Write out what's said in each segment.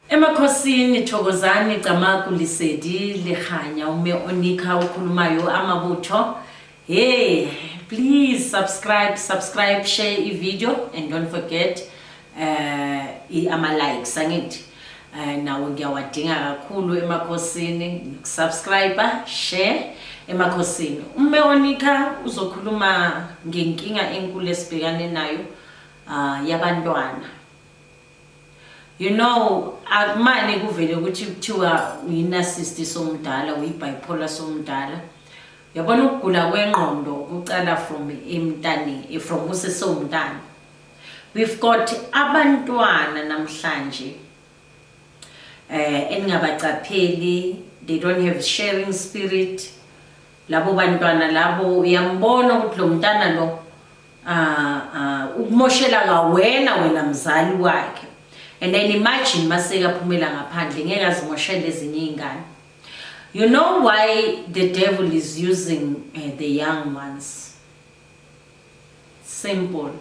Emakhosini Thokozani Camagu Lisedi Lihanya ume onikha okhulumayo amabutho hey please subscribe subscribe share i video and don't forget uh, i ama likes angithi uh, nawo ngiyawadinga kakhulu emakhosini subscribe share emakhosini ume onikha uzokhuluma ngenkinga enkulu esibhekane nayo uh, yabantwana You know, akumane kuvele ukuthi kuthiwa uyinasisti somdala, uyibipolar somdala. Yabona ukugula kwengqondo kucala from emntane, eh, from usesewumntana. We've got abantwana namhlanje eh eningabaqapheli, they don't have sharing spirit. Labo bantwana labo uyambona ukuthi lo mntana lo Ah, ah, ukumoshela ngawena wena mzali wakhe and then imagine maseka phumela ngaphandle ngeke azimoshele ezinye izingane you know why the devil is using uh, the young ones simple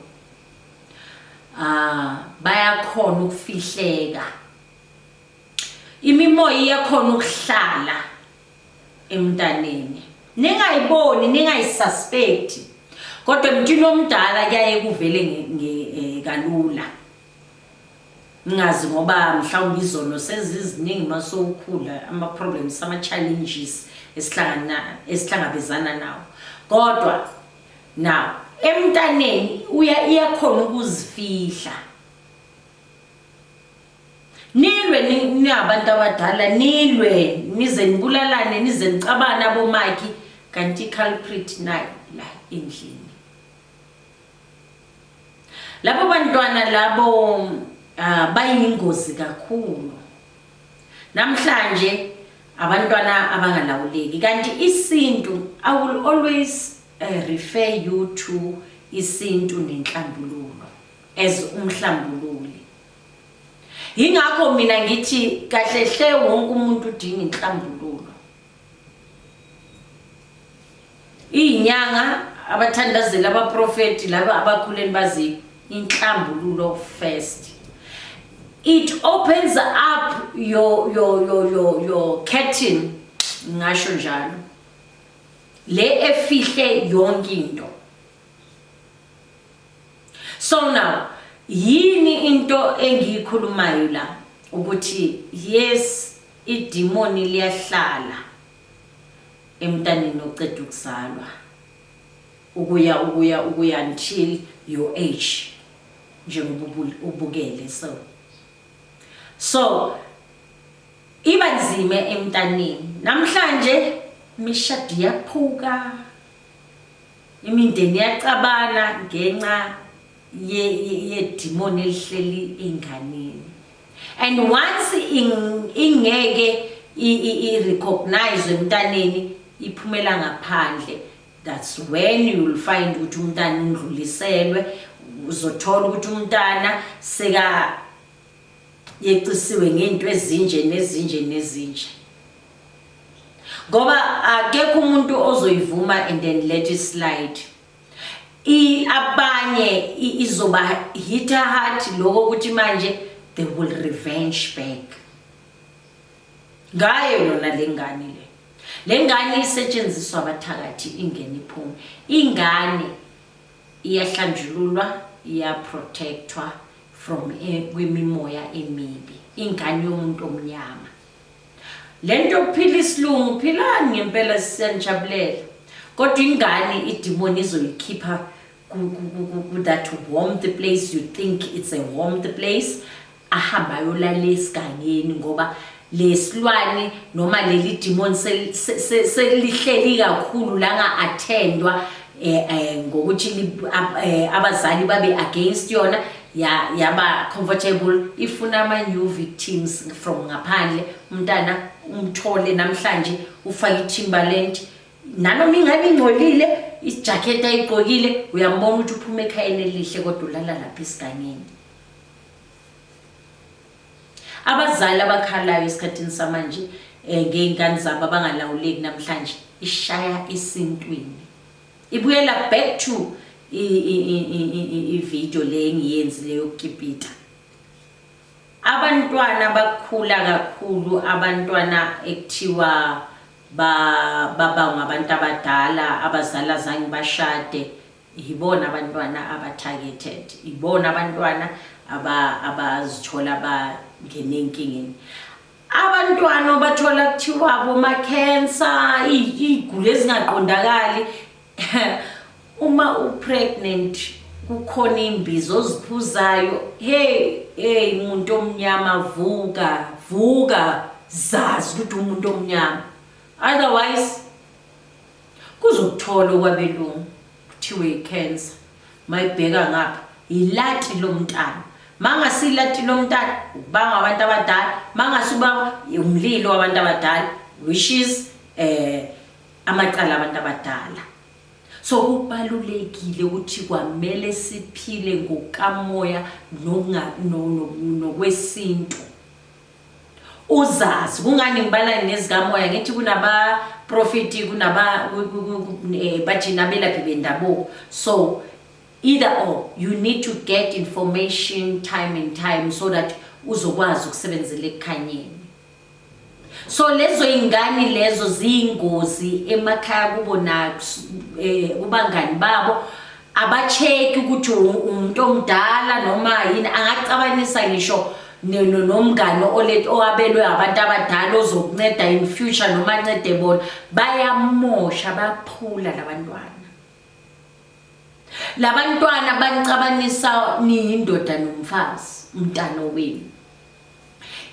ah bayakhona ukufihleka imimoya iyakhona ukuhlala emntaneni ningayiboni ningayisuspect kodwa emntwini omdala kuyaye kuvele eh, kalula ngingazi ngoba mhlawumbe izono seziziningi uma sowukhula ama-problems ama-challenges esihlangabezana nawo kodwa now emntaneni iyakhona ukuzifihla Nilwe ningabantu abadala nilwe nize nibulalane nize nicabane abomaki kanti culprit nayo la endlini. Labo bantwana labo uh, bayingozi kakhulu. Namhlanje abantwana abangalawuleki kanti isintu I will always uh, refer you to isintu nenhlambululo as umhlambululo yingakho mina ngithi kahle hle wonke umuntu udinga inhlambululo iyinyanga abathandazeli abaprofeti laba abakhuleni bazi inhlambululo first it opens up your your your your, your curtain ngasho njalo le efihle yonke into so now yini into engiyikhulumayo la ukuthi yes idimoni liyahlala emntaneni oceda ukuzalwa ukuya ukuya ukuya until your age njengoba ubukele so so iba nzima emntaneni namhlanje imishado iyaphuka imindeni yacabana ngenxa yedimoni elihleli enganeni and once ingeke i-recognize emntaneni iphumela ngaphandle that's when you will find ukuthi umntana undluliselwe uzothola ukuthi umntana seka yecisiwe ngento ezinje nezinje nezinje ngoba akekho umuntu ozoyivuma and then let it slide i abanye izoba hitter heart lokho ukuthi manje they will revenge back ngayo lona lengane le lengane isetshenziswa abathakathi ingene iphume ingane iyahlanjululwa iyaprotectwa from e, kwimimoya emibi ingane yomuntu omnyama le nto yokuphila isilungu philani ngempela sisenijabulela kodwa ingane idimoni izoyikhipha that warm the place you think it's a warm the place ahambe ayolala esigangeni ngoba lesilwane noma leli demon selihleli kakhulu la nga attendwa eh, eh ngokuthi eh, abazali babe against yona yaba comfortable ifuna ama new victims from ngaphandle umntana umthole namhlanje ufake itimbaland nanoma ingabe ingcolile ijacket ayigqokile uyambona ukuthi uphuma ekhayeni elihle kodwa ulala lapha esigangeni Abazali abakhalayo esikhathini samanje eh, ngey'ngane zabo abangalawuleki namhlanje ishaya isintwini ibuyela back to ividiyo le engiyenzile yokukipita abantwana bakhula kakhulu abantwana ekuthiwa baba ngabantu abadala abazali azange bashade yibona abantwana aba-targeted yibona abantwana abazithola bangene enkingeni abantwana obathola kuthiwa bomakhensa iy'gulo ezingaqondakali uma u-pregnant kukhona imbizo oziphuzayo hey hey umuntu omnyama vuka vuka zazi ukuthi umuntu omnyama otherwise Kuzokuthola okwabelungu kuthiwe icancer. Mayibheka ngapha yilati lomntana. Mangasi ilati lomntana ubanga abantu abadala, mangasi ubanga umlilo wabantu abadala which is eh amacala abantu abadala. So kubalulekile ukuthi kwamele siphile ngokamoya nokwesintu. uzazi kungani ngibala nezikamoya ngithi kunaba profiti kunaba eh, bajina belaphi bendabuko so either or you need to get information time and time so that uzokwazi ukusebenzela ekukhanyeni so lezo ingane lezo ziyingozi emakhaya kubo na eh, kubangani babo abacheki ukuthi umuntu omdala noma yini angacabanisa ngisho nomngane owabelwe abantu abadala ozokunceda in future noma ancede bona bayamosha baphula labantwana labantwana banicabanisa niyindoda nomfazi umntana wenu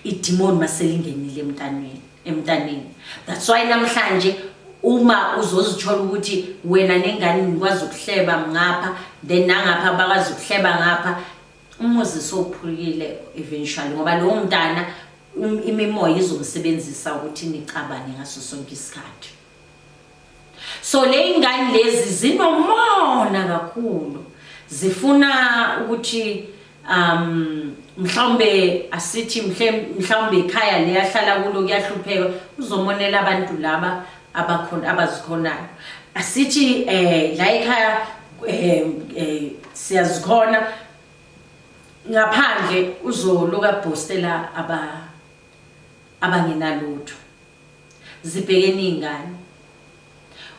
idimoni maselingenile emntanweni emntaneni that's why namhlanje uma uzozithola ukuthi wena nengane nikwazi ukuhleba ngapha then nangapha bakwazi ukuhleba ngapha umuzi sowuphulukile eventually ngoba lowo mntana um, imimoya izomsebenzisa ukuthi nicabane ngaso sonke isikhathi so le ingane lezi zinomona kakhulu zifuna ukuthi um mhlawumbe asithi mhlawumbe ikhaya leyahlala kulo kuyahlupheka uzomonela abantu laba abakhona abazikhonayo asithi eh la ekhaya eh, eh siyazikhona ngaphandle uzoluka bostela aba abangenalutho zibhekene iy'ngane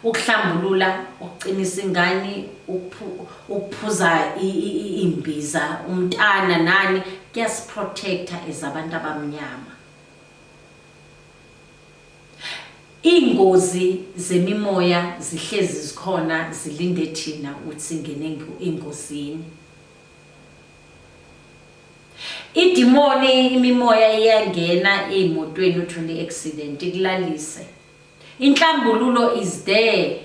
ukuhlambulula ukuqinisa ingane ukuphuza imbiza umntana nani kuyasiprotecta as abantu abamnyama iy'ngozi zemimoya zihlezi zikhona zilinde thina ukuthi singene engozini Idimoni imimoya iyangena emotweni uthole accident ikulalise. Inhlambululo is there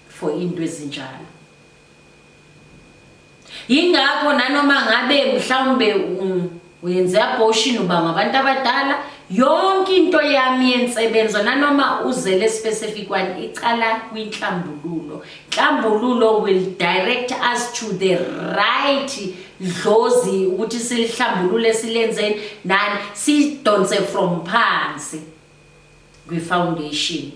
for into ezinjalo. Yingakho nanoma ngabe mhlawumbe uyenze abortion uba ngabantu abadala yonke into yami yensebenzo nanoma uzele specific one icala kwinhlambululo Hlambululo will direct us to the right dlozi ukuthi silihlambulule silenzeni nani sidonse from phansi kwi-foundation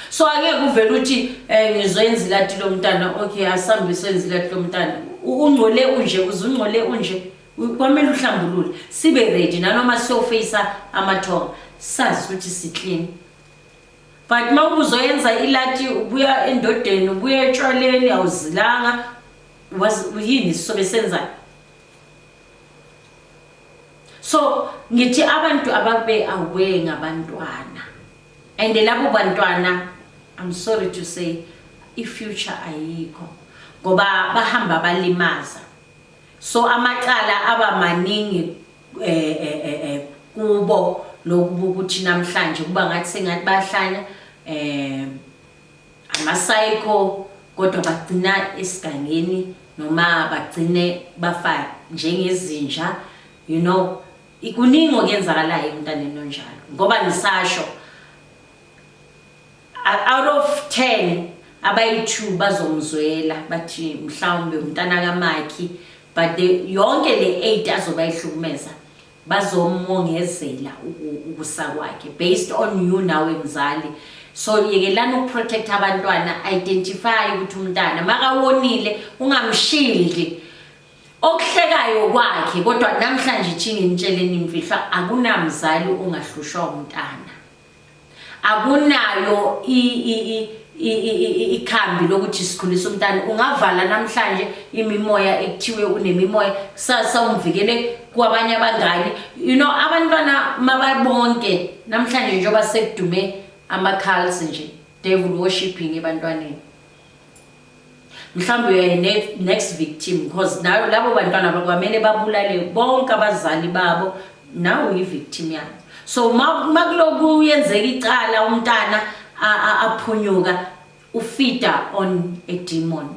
so angeke uvele ukuthi um eh, ngizoyenza ilati lomntana okay asambe soyenza ilati lomntana ungcole unje uze ungcole unje kwamele uhlambulule sibe ready nanoma siyofeyisa amathonga sazi ukuthi siklini but uma ubuzoyenza ilati ubuya endodeni ubuya etshwaleni awuzilanga yini sisobe senzayo so ngithi abantu ababe aware ngabantwana and labo bantwana i'm sorry to say i-future ayikho ngoba bahamba balimaza so amacala aba maningi eh, eh, eh, eh kubo lokuba ukuthi namhlanje kuba ngathi sengathi bayahlanya eh amasayikho kodwa bagcina esigangeni noma bagcine bafa njengezinja you know ikuningi okuyenzakalayo emntaneni onjalo ngoba ngisasho out of 10 abayi-2 bazomzwela bathi mhlawumbe umntana kamakhi but the, yonke le 8 azoba ihlukumeza bazomongezela ukusa kwakhe based on you nawe mzali so yekelani ukuprotect abantwana identify ukuthi umntana makawonile ungamshildi okuhlekayo kwakhe kodwa namhlanje ithini nitsheleni imfihlo akunamzali ongahlushwa umntana akunayo ikhambi lokuthi sikhulisa umntana ungavala namhlanje imimoya ekuthiwe unemimoya kusasa umvikele kwabanye abangani you know abantwana mababonke namhlanje njengoba sekudume ama-calls nje devil worshipping ebantwaneni mhlawumbe uyaye next victim because nayo labo bantwana bakwamele babulale bonke abazali babo nawe uyi-victim yabo so uma kuloku yenzeka icala umntana aphunyuka ufida on a demon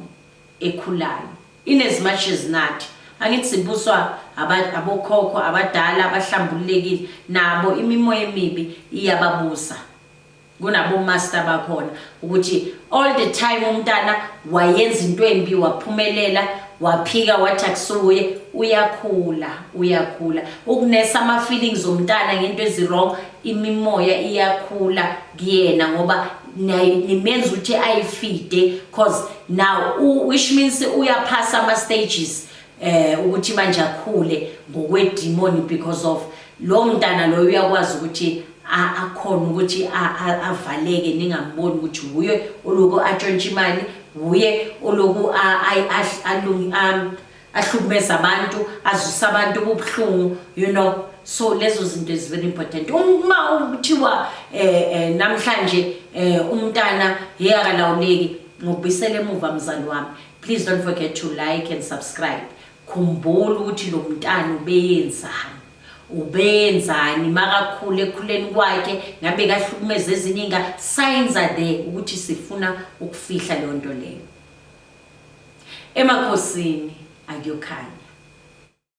ekhulayo in as much as nathi angithi sibuswa abokhokho abadala abahlambululekile nabo imimoya emibi iyababusa kunabomasta bakhona ukuthi all the time umntana wayenza into embi waphumelela waphika wathi akusuye uyakhula uyakhula ukunesa ama-feelings omntana ngento ezi-wrong imimoya iyakhula kuyena ngoba nimenza ukuthi ayifide cause now which means uyaphasa ama-stages eh ukuthi manje akhule ngokwedemon because of lo mntana loyo uyakwazi ukuthi akhona ukuthi avaleke ningamboni ukuthi wuye oloku atshontsha imali wuye oloku ahlukumeza abantu azwisa abantu ububuhlungu you know so lezo zinto is very important uma kuthiwa um eh, eh, namhlanje um umntana yeyakalawuleki ngokubisela emuva mzali wami Please don't forget to like and subscribe. Khumbula ukuthi lo mntana ubeyenzani. Ubeyenzani makakhule ekhuleni kwakhe ngabe kahlukumeza ezinye inga signs are there ukuthi sifuna ukufihla leyo nto leyo. Emakhosini akuyokhanya.